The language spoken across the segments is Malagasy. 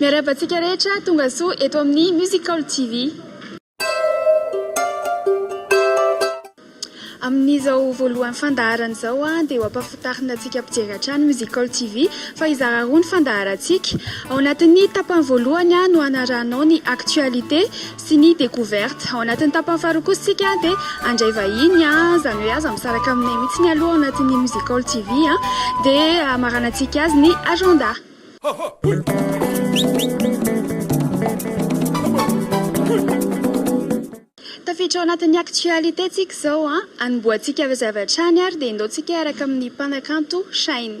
Miarahaba antsika rehetra tonga soa eto amin'ny Musical TV. Amin'izao voalohan'ny fandaharana izao dia ho ampahafantarina antsika mpijery hatrany Musical TV fa hizara roa ny fandaharantsika. Ao anatin'ny tapany voalohany no hanarahanao ny actualité sy ny découverte. Ao anatin'ny tapany faharoa kosa isika dia handray vahiny izany hoe aza misaraka aminay mihitsy aloha ao anatin'ny Musical TV dia hamaranantsika azy ny agenda. Tafiditra ao anatin'ny actualité tsika izao an! Anombohantsika mazava hatrany ary dia indao tsika hiaraka amin'ny mpanakanto Shine.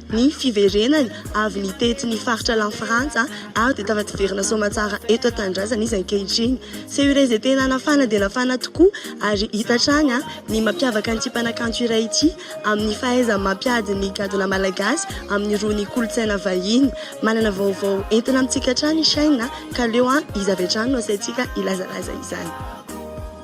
ny fiverenany avy nitety ny faritra la frantsa ary dia tafativerina soamatsara eto an-tanindrazana izy ankehitriny. Seho iray izay tena nafana dia nafana tokoa ary hita hatrany ny mampiavaka an'ity mpanakanto iray ity amin'ny fahaizany mampiady ny gadona malagasy amin'irony kolontsaina vahiny. Manana vaovao entina amintsika hatrany i Shyn ka aleo izy avy hatrany no asaintsika hilazalaza izany.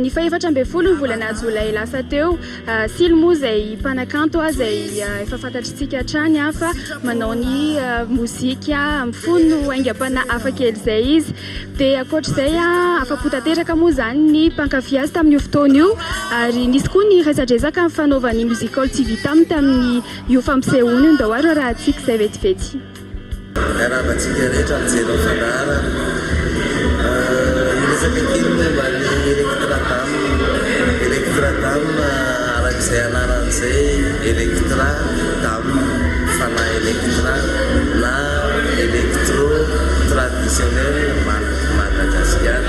Ny fahefatra ambin'ny folo ny volana jolay lasa teo, Silo moa izay mpanakanto izay efa fantatr'isika hatrany fa manao ny mozika mifono haingam-panahy hafakely izay izy. Dia ankoatr'izay, afa-po tanteraka moa izany ny mpankafy azy tamin'io fotoana io ary nisy koa ny resadresaka fanaovan'ny Music Hall TV taminy tamin'io fampisehoany io. Ndao ary horahantsika izay vetivety. Miarahaba antsika rehetra mijery ny fandaharana. Hiresaka kely momba ny Electra Dames. Electra Dames, araka izay anarany izay, Electra, Dames, Fanahy Electra na Electro Traditionnelle Madagascar.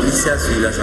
Misy azo ilazana.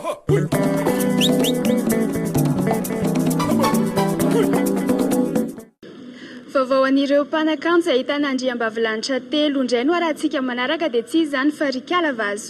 Vaovao an'ireo mpanakanto izay ahitana andriambavilanitra telo indray no arahantsika manaraka dia tsy iza izany fa ry Kala Vazo.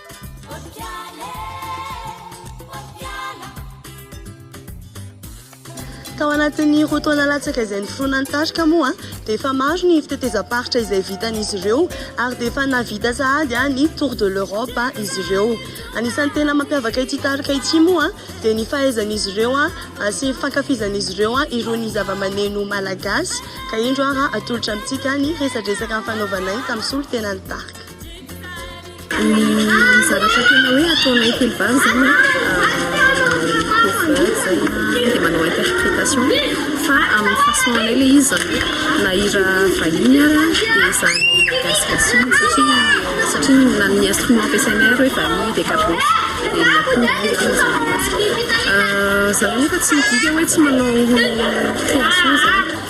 Tao anatin'ny roa taona latsaka izay niforonan'ny tarika moa dia efa maro ny fitetezam-paritra izay vitan'izy ireo ary dia efa nahavita sahady ny Tour de l'Europe izy ireo. Anisan'ny tena mampiavaka ity tarika ity moa dia ny fahaizan'izy ireo sy ny fankafizan'izy ireo irony zavamaneno malagasy ka indro ary atolotra amintsika ny resadresaka nifanaovanay tamin'ny solontenan'ny tarika. Ny zavatra tena hoe ataonay telo vavy zany an, ny cover zay dia manao interprétation fa amin'ny façon anay ilay izy zany hoe na hira vahiny ary dia zany gasigasy iny satria satria na ny instrument ampiasainay ary hoe vahiny dia gabôsy dia ny akoho dia koa zany. Zany hoe fa tsy midika hoe tsy manao création zany.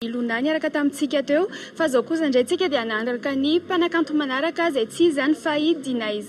Ilona niaraka tamintsika teo fa zao kosa indray tsika dia hanaraka ny mpanakanto manaraka izay tsy iza izany fa i Dinaiz.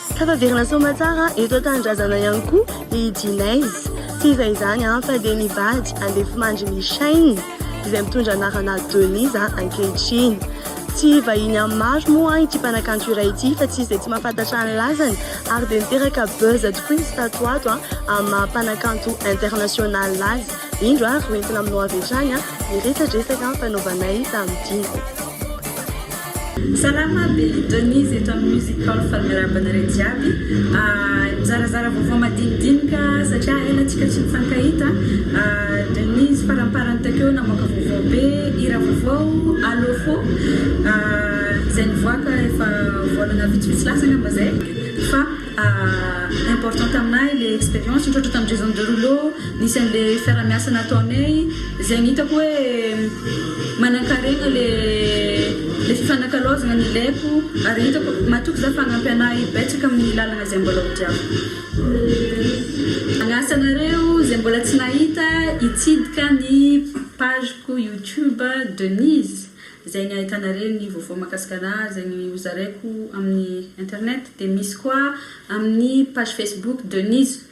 Tafaverina soamatsara eto an-tanindrazana ihany koa i Jinez. Tsy iza izany fa dia ny vady andefimandry Michaine izay mitondra anarana Denise ankehitriny. Tsy vahiny amin'ny maro moa ity mpanakanto iray ity fa tsy izy dia tsy mahafantatra ny lazany ary dia niteraka buzz tokoa izy tato ho ato amin'ny maha mpanakanto international azy. Indro ary hoentina aminao avy hatrany ny resadresaka fanaovanay tamin'ity. Salama be Denise eto amin'ny Music Hall fa miarahaba anareo jiaby Mizarazara vaovao madinidinika satria ela antsika tsy nifankahita Denise faramparany takeo namoaka vaovao be hira vaovao Allo fo izay nivoaka efa volana vitsivitsy lasa angamba izay fa Important taminay ilay expérience nitrôtra tamin'ny réseau nireo rouleau nisy an'ilay fiarahamiasa nataonay izay ny hitako hoe manankarena le le fifanakalaozana nilaiko ary hitako matoky za fa hanampy anah betsaka amin'ny lalana izay mbola hodiako. Mianasa anareo izay mbola tsy nahita hitsidika ny page ko youtube Denise Izay ny ahitana re ny vaovao makasika ahy izay ny hozaraiko amin'ny internet dia misy koa amin'ny page facebook Denise.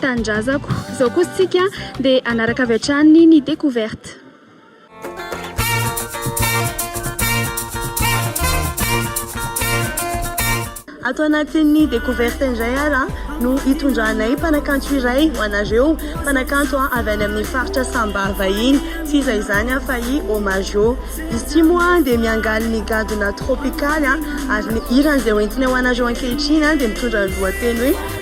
Tanindrazako. Izao kosa isika dia hanaraka avy hatrany ny découverte. Ato anatin'ny découverte indray ary no hitondranay mpanakanto iray ho anareo, mpanakanto avy any amin'ny faritra Samba vahiny, tsy iza izany fa i Omajo. Izy ity moa dia miangaly ny gadona tropikaly ary ny hirany izay hoentiny ho anareo ankehitriny dia mitondra ny lohateny hoe.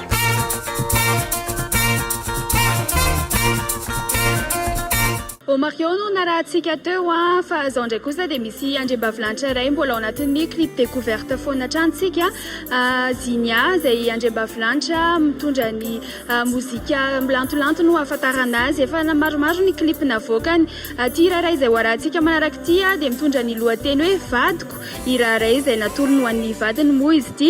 Omarion no narahantsika teo a, fa zao ndray kosa dia misy andriambavilanitra iray mbola ao anatin'ny clip découverte foana hatrany tsika Zinia izay andriambavilanitra mitondra ny mozika milantolanto no ahafantarana azy efa maromaro ny clip navoakany ity hira iray izay ho arahantsika manaraka ity dia mitondra ny lohateny hoe vadiko hira iray izay natolony ho an'ny vadiny moa izy ity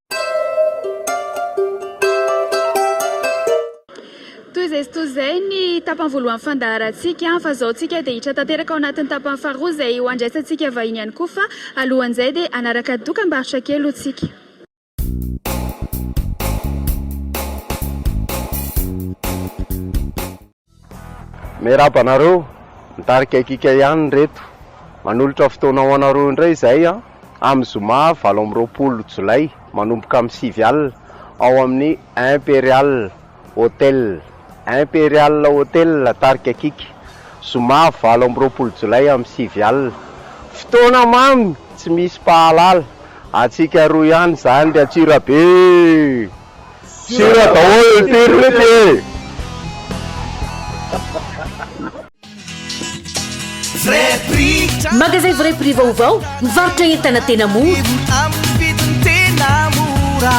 Toy izay sy toy izay ny tapany voalohan'ny fandaharantsika fa izao tsika dia hiditra tanteraka ao anatin'ny tapany faharoa izay ho handraisantsika vahiny ihany koa fa alohan'izay dia hanaraka ny dokambarotra kely aloha tsika. Miarahaba anareo, mitarika kiaka ihany reto. Manolotra fotoana ho anareo indray izay amin'ny zoma valo amby roapolo jolay manomboka amin'ny sivy alina ao amin'ny Imperial Hotel. Imperial Hotel tarika kiaka, zoma valo amby roapolo jolay amin'ny sivy alina. Fotoana mamy tsy misy mpahalala, antsika roa ihany izany ry Antsirabe. Sira daholo impiry ve ty e? Magasin Vrai Prix vaovao, mivarotra entana tena mora. Amin'ny vidiny tena mora.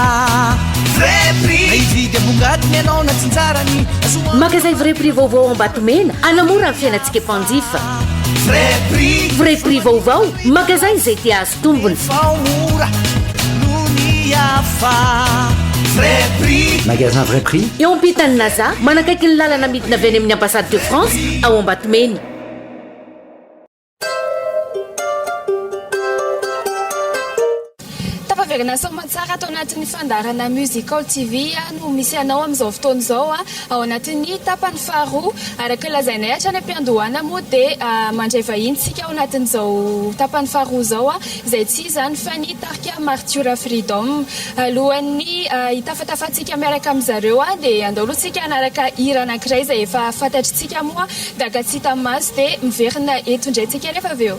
Vrai Prix. Na hividy ambongadiny ianao na tsinjarany. Azoa Magasin Vrai Prix vaovao ao Ambatomena, hanamora ny fiainantsika mpanjifa. Vrai Prix. Vrai Prix vaovao, magasin izay te tombony. Magasin vrai prix. Eo ampitan'ny Naza, manakaiky ny lalana midina avy any amin'ny Ambassade de France ao Ambatomena. Tafaverina soamantsara ato anatin'ny fandaharana Musical TV no misy anao amin'izao fotoana izao. Ao anatin'ny tapany faharoa, araka ny lazainay hatrany am-piandohana moa dia mandray vahiny isika ao anatin'izao tapany faharoa izao, izay tsy iza izany fa ny tarika Martiora Freedom. Alohan'ny hitafatafantsika miaraka amin-dry zareo dia andao aloha isika hanaraka hira anankiray izay efa fantatr'isika moa gaga tsy hita maso dia miverina eto indray isika rehefa avy eo.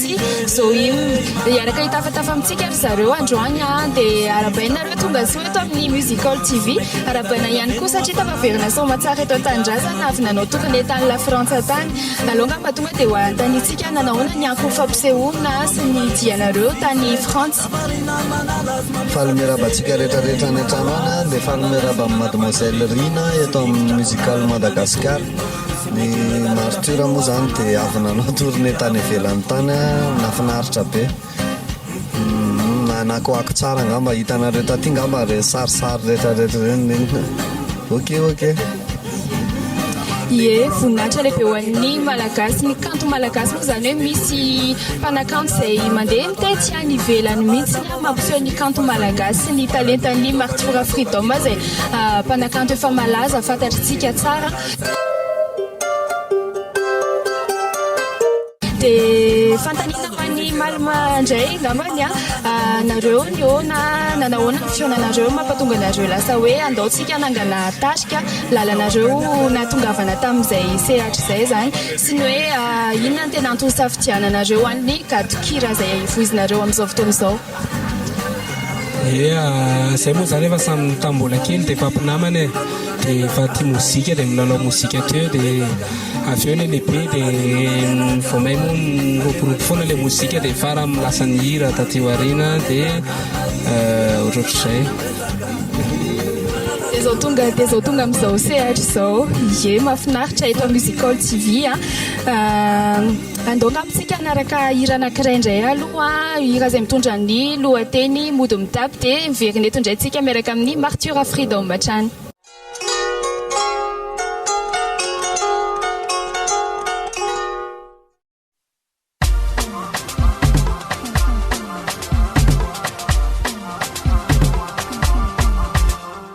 Zohim dia hiaraka hitafatafa amintsika ry zareo androany dia arabaina nareo tonga soa eto amin'ny Musical TV arabaina ihany koa satria tafaverina soamatsara eto an-tanindrazana avy nanao tournée tany la Frantsa tany aleo nga mba tonga dia ho anontaniantsika nanahoana ny ankofy fampisehoana sy ny dianareo tany Frantsa Faly miarahaba antsika rehetrarehetra any an-trano any dia faly miarahaba an'i Mademoiselle Rina eto amin'ny Musical Madagascar. Ny martyrs moa zany dia avy nanao tournée tany ivelany tany nahafinaritra be. Nanakoako tsara angamba hitanareo taty angamba ireny sarisary retraretra ireny neny. Ok ok. Ie, voninahitra lehibe ho an'ny Malagasy, ny kanto malagasy moa izany hoe misy mpanakanto izay mandeha mitety any ivelany mihitsy ny mampiseho ny kanto malagasy sy ny talentan'ny martyrs freedom izay mpanakanto efa malaza fantatr'itsika tsara. Dia fanontaniana ho an'i Malma indray angambany an, nareo nihaona nanahoana ny fihaonanareo no mampatonga anareo lasa hoe andao tsika hanangana tarika lalanareo nahatongavana tamin'izay sehatra izay izany sy ny hoe inona no tena antony isafidiananareo any ny gadon-kira izay voizinareo amin'izao fotoana izao. Ea, zay moa zany efa samy tam mbola kely de efa mpinamana e, de efa tia mozika de milalao mozika teo de avy eo le lehibe de vao may moa miroborobo foana le mozika de farany lasa nihira taty aoriana de ohatrotr'izay. De zao tonga de zao tonga amizao sehatra izao, ie mafinaritra eto amin'ny Music Hall TV an. Andoaka amintsika hanaraka hira anankiray indray aloha, hira izay mitondra ny lohateny mody mitapy dia miverina eto indray tsika miaraka amin'ny Martyrs Freedom hatrany.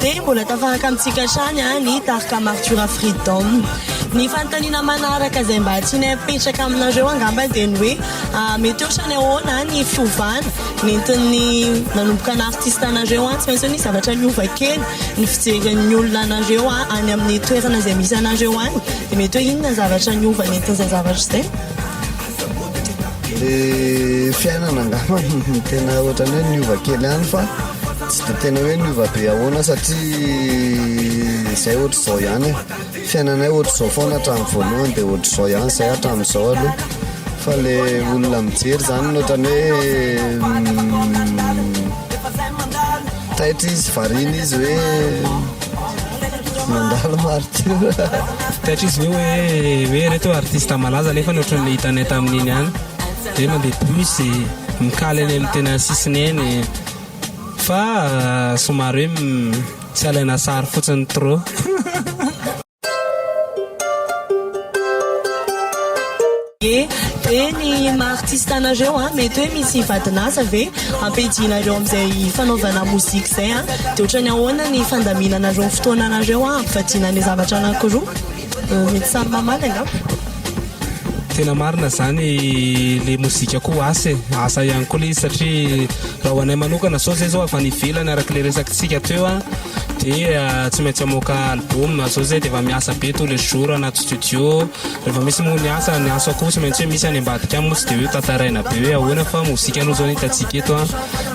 dia mbola tafaraka amintsika hatrany ny tarika Martura Freedom. Ny fanontaniana manaraka izay mba tianay hapetraka aminareo angamba dia ny hoe mety ohatrany ahoana ny fiovana nentin'ny nanomboka naha-artista anareo. Tsy maintsy hoe nisy zavatra niova kely ny fijerin'ny olona anareo any amin'ny toerana izay misy anareo any, dia mety hoe inona ny zavatra niova nentin'izay zavatra izay? Ny fiainana angamba no tena ohatrany hoe niova kely ihany fa. Tsy dia tena hoe niova be ahoana satria izay ohatr'izao ihany e, fiainanay ohatr'izao foana hatramin'ny voalohany dia ohatr'izao ihany izay hatramin'izao aloha fa le olona mijery zany no ohatran'ny hoe taitra izy variana izy hoe mandalo martyrs. Taitra izy ve hoe ireto artiste malaza nefa ohatran'ny hitanay tamin'iny ihany dia mandeha bus, mikaly any amin'ny tena sisiny eny. Fa somary hoe tsy alaina sary fotsiny trop. Ye, de ny maha artiste anareo an, mety hoe misy vadin'asa ve ampidianareo amin'izay fanaovana mozika izay an? De otrany ahoana ny fandaminanareo ny fotoananareo an ampivadiana ny zavatra anakiroa? Mety samy mamaly angamba. Tena marina zany le mozika koa asa e, asa ihany koa le izy satria raha ho anay manokana zao zay zao avy any ivelany araka le resakitsika teo a de tsy maintsy hamoaka album zao zay de efa miasa be tous les jours anaty studio rehefa misy moa ny asa ny asa koa tsy maintsy hoe misy any ambadika any moa tsy de hoe tantaraina be hoe ahoana fa mozika aloha zao ny hitantsika eto a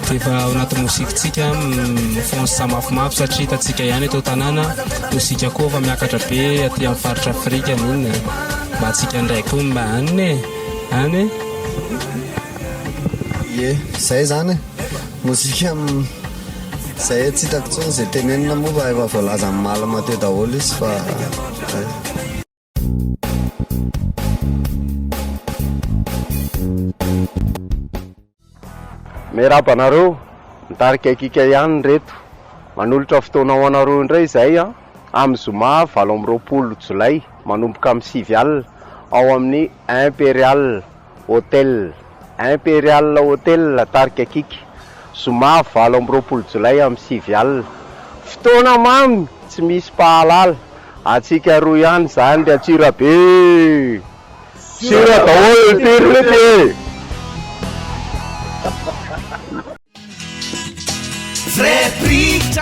de efa ao anaty mozikitsika mifohansy samafimafy satria hitantsika ihany eto an-tanàna. Mozika koa efa miakatra be aty amin'ny faritra Afrika moa e. Mba antsika indray koa mba any e, any e. Ye, zay zany e. Mozika zay e, tsy hitako intsony ze tenenina moa fa efa voalaza amin'ny malma teo daholo izy fa zay. Miarahaba anareo, mitarika ekika ihany ireto. Manolotra fotoana ho anareo indray izahay an, amin'ny zoma valo amby roapolo jolay manomboka amin'ny sivy alina ao amin'ny Imperial Hotel Imperial Hotel, tarika Kick, zoma valo amby roapolo jolay amin'ny sivy alina. Fotoana mamy tsy misy mpahalala, antsika roa ihany izany ry Antsirabe eh! Sira daholo ny tiriny ity eh!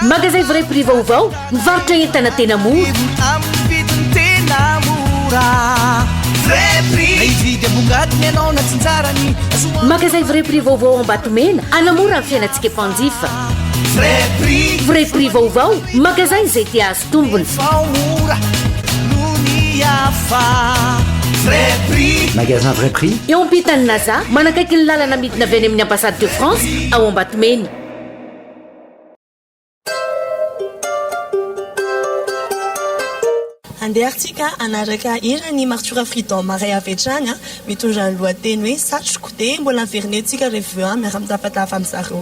Magazay Vrai Prix vaovao, mivarotra entana tena mora. Magazay Vrai Prix vaovao Ambatomena anamora ny fiainantsika mpanjifa. Vrai Prix vaovao, magazay izay tia tombony. Magasin vrai prix. Eo ampitan'ny Naza, manakaiky ny lalana midina avy any amin'ny Ambassade de France ao Ambatomena. Andehantsika hanaraka hiran'i Martura Freedom iray avy hatrany mitondra ny lohateny hoe Satriko dia mbola averinentsika revue miara-mitafatafa amin'izareo.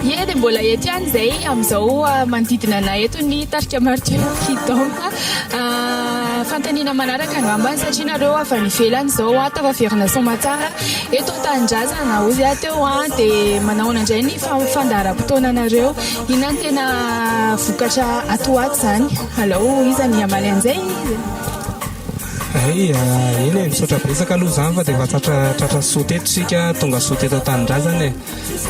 Ie dia mbola eto ihany izay amin'izao manodidina anay eto ny tarika Martyrs qui dansent. Fanontaniana manaraka angamba satria nareo avy any ivelany izao aho tafaverina soamatsara eto an-tanindrazana hoy aho teo dia manahoana indray ny fandaharam-potoananareo? Inona no tena vokatra ato ho ato izany? Alao iza ny hamaly an'izay? Hay, eny e, misaotra betsaka aloha izany fa dia efa tratra tratra soa teto isika, tonga soa teto an-tanindrazana e.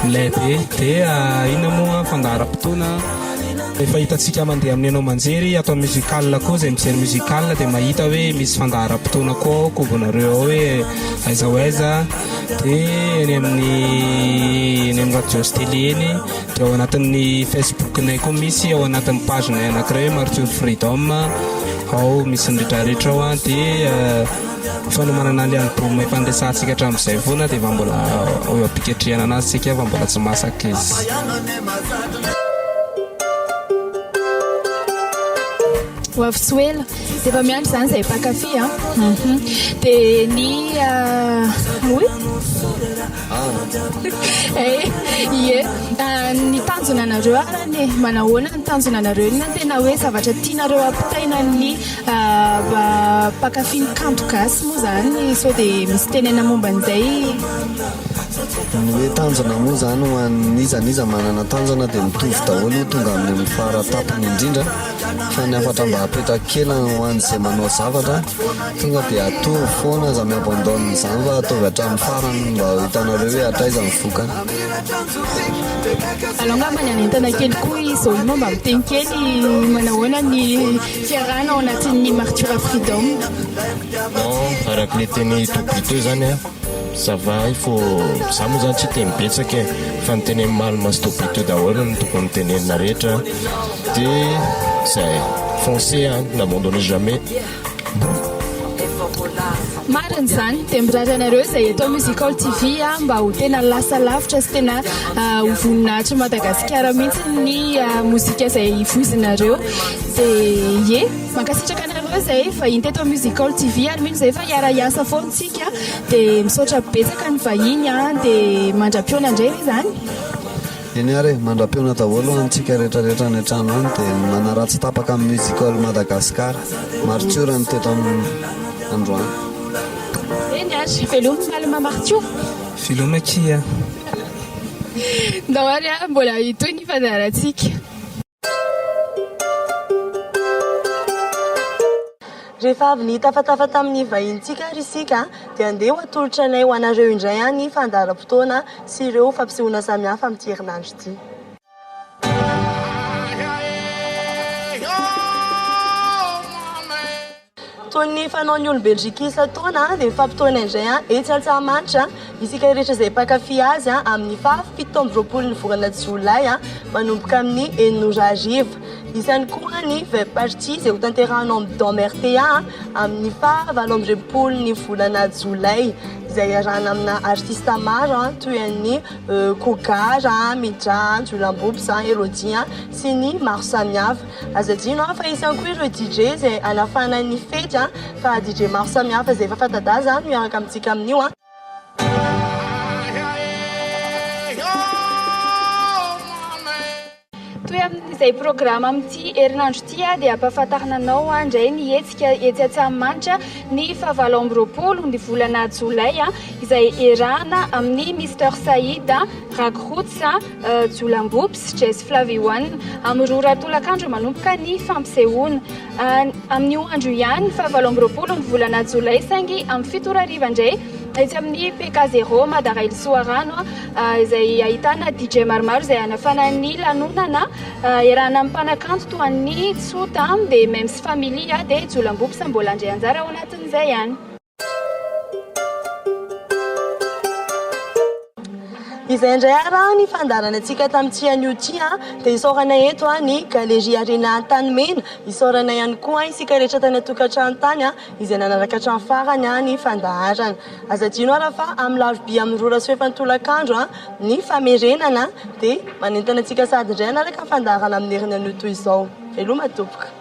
Milay be. Dia inona moa fandaharam-potoana an? Efa hitantsika mandeha amin'ny haino aman-jery ato amin'ny musical koa izay mijery musical dia mahita hoe misy fandaharam-potoana koa ao an-kobonareo ao hoe aiza ho aiza dia eny amin'ny eny amin'ny radio sy tele eny dia ao anatin'ny Facebook-nay koa misy ao anatin'ny page-nay anankiray hoe Martial Freedom ao misy ny retraretra ao dia fanomanana ny album efa niresahantsika hatramin'izay foana dia efa mbola eo am-piketrehana anazy tsika fa mbola tsy masaka izy ho avy tsy ho ela dia efa miandry izany izay mpankafy a mhm. dia ny ah, oe ah. eh, ie ah, ny tanjona anareo arany e. manahoana ny tanjona anareo na tena hoe zavatra tianareo ampitaina ny Mpankafy ny kanto gasy moa zany sao dia misy tenena momba an'izay? Ny hoe tanjona moa zany ho an'iza n'iza manana tanjona dia mitovy daholo io tonga amin'ny fara tampony indrindra fa ny hafatra mba apetrak'i kela ho an'izay manao zavatra tonga dia atovo foana aza mi-abandonne izany fa ataovy hatramin'ny farany mba ho hitanareo hoe hatraiza ny vokany. Alao angamba ny hanentana kely koa i Zolina mba miteny kely manahoana ny. Fiarahana ao anatin'ny Martura Freedom. Non, araka le teny Toby teo zany an, ça va hay fô za moa zany tsy hiteny betsaka e, fa ny teny Malma sy Toby teo daholo no tokony ho tenenina rehetra de zay, foncez an, n'abandonnez jamais. Marina izany, dia mirary anareo izay eto amin'ny Music Hall TV mba ho tena lasa lavitra sy tena ho voninahitry Madagasikara mihitsy ny mozika izay voizinareo. Zee. Mankasitraka anareo izay vahiny teto amin'ny Music Hall TV ary mino izay fa hiara-hiasa foana isika. Dia misaotra betsaka ny vahiny dia mandra-pihaona indray ve izany? Eny ary e, mandra-pihaona daholo ho antsika rehetrarehetra any an-trano any dia manaraha tsy tapaka ny Music Hall Madagascar. Martiora ny teto amin'ny androany. Eny ary, veloma malama Martiora. Veloma akia. Ndao ary a, mbola hitohy ny fandaharantsika. Rehefa avy nitafatafa tamin'ny vahinintsika ary isika, dia andeha ho atolotra anay ho anareo indray any ny fandaharam-potoana sy ireo fampisehoana samihafa amin'ity herinandro ity. Toy ny fanaon'ny olom-bendrika isan-taona, dia mifampitohina indray etsy Antsahamanitra isika rehetra izay mpankafy azy amin'ny faha fito amby roapolo ny volana jolay manomboka amin'ny enina ora hariva. Misy ihany koa ny Vep Party izay ho tanterahina ao amin'ny Dome rta amin'ny faha valo amby roapolo ny volana jolay izay iarahana amina artista maro toy an'i Kogara, Midra, Jolambops, Elodie sy ny maro samihafa. Azo adino an fa hisy ihany koa ireo DJ izay hanafana ny fety an, fa DJ maro samihafa izay efa fanta-daza no hiaraka amintsika amin'io an. Toy amin'izay programa amin'ity herinandro ity dia hampahafantarina anao indray ny hetsika etsy Antsahamanitra ny faha valo amby roapolo ny volana jolay izay iarahana amin'ny Mister Saïd, Rag Roots, Jolambopsy, Jess Flavione, amin'ny roa ora tolakandro manomboka ny fampisehoana. Amin'io andro io ihany, fahavalo amby roapolo ny volana jolay, saingy amin'ny fito ora hariva indray, etsy amin'ny PK Zero Madara Ily Soarano, izay ahitana DJ maromaro izay hanafana ny lanonana. Iarahana amin'ny mpanakanto toa an'i Tsota, Bemem sy Family, dia Jolambopsy mbola handray anjara ao anatin'izay ihany. Izay indray ary ah, ny fandaharana antsika tamin'ity anio ity ah, dia isaorana eto ah, ny Galerie Arena Antanimena. Isaorana ihany koa isika rehetra tany an-tokantrano tany ah, izay nanaraka hatramin'ny farany ah, ny fandaharana. Aza adino ary fa amin'ny larobia amin'ny roa rasoefany tolakandro ah, ny famerenana dia manentana antsika sahady indray hanaraka ny fandaharana amin'ny heriny anio toy izao. Veloma tompoko.